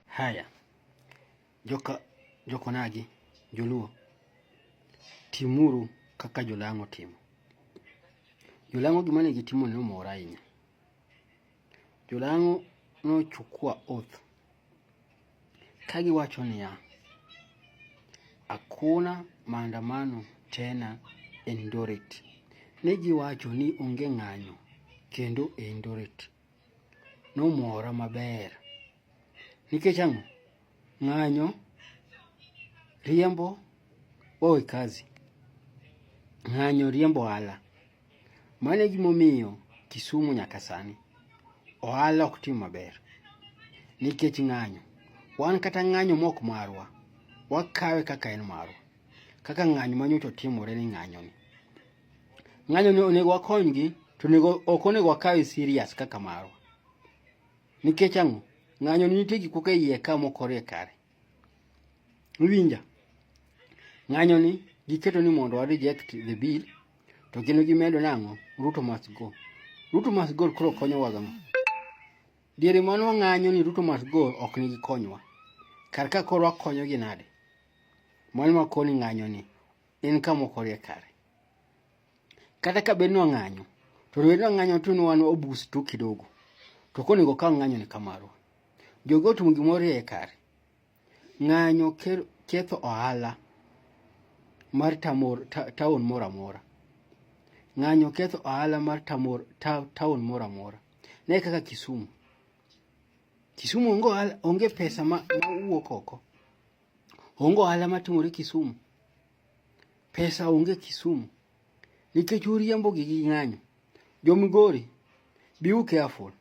Haya, joka jokonagi joluo, timuru kaka jolang'o timo. Jolang'o gima ne gitimo ne omora ahinya. Jolang'o nochukua oath ka giwacho niya, hakuna maandamano tena Eldoret. Ne giwacho ni onge ng'anyo kendo Eldoret. nomora maber. Nikech ang'o? Ng'anyo, riembo, owe kazi. Ng'anyo, riembo ohala. Mano e gimomiyo Kisumu nyaka sani ohala ok tim maber nikech ng'anyo. Wan kata ng'anyo mok marwa, wakawe kaka en marwa, kaka ng'anyo manyocha otimore ni ng'anyoni. ng'anyo ni onego wakonygi to onego ok onego wakawe serious kaka marwa nikech ang'o ng'anyo ni nitie gik moko e iye ka mokore kare iwinja ng'anyo ni giketo ni mondo wa reject the bill to kendo gimedo nang'o ruto must go ruto must go koro konyowa gang'o diere mano wang'anyo ni ruto must go ok nigi konywa kar ka koro wakonyogi nade mano makoni ng'anyo ni en kama ok orie kare. Kata ka bed ni wang'anyo, to bed ni wang'anyo to ni wan obus to kidogo. To koro onego okaw ng'anyo ni kamaro. Jogo otimo gima orie kare. Ng'anyo ketho ohala mar tamor taon moro amora. Ng'anyo ketho ohala mar tamor taon moro amora. Ne kaka Kisumu. Kisumu onge pesa ma wuok oko. Onge ohala matimore Kisumu. Pesa onge Kisumu. Nikech uriembo gi gi ng'anyo. Jo Migori, be you careful.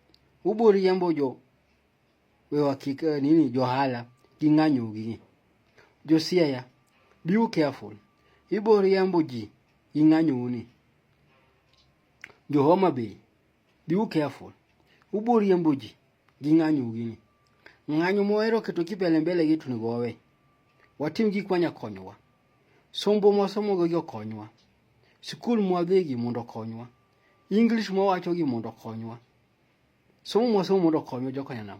Ubo riembo jo wewa kik eh, nini jo hala gi ng'anyo gi. Jo Siaya, be you careful. Ibo riembo ji gi ng'anyo uni. Jo Homa Bay, be you careful. Ubo riembo ji. gi ng'anyo gini. Ng'anyo mohero keto kipele mbele gi tunego wawe. Watim gik manya konyowa. Sombo mwasomo gi okonywa. Sikul mwadhigi mondo okonywa. English mwawacho gi mondo okonywa. Somo mwasomo mondo okonywa jokanyanam.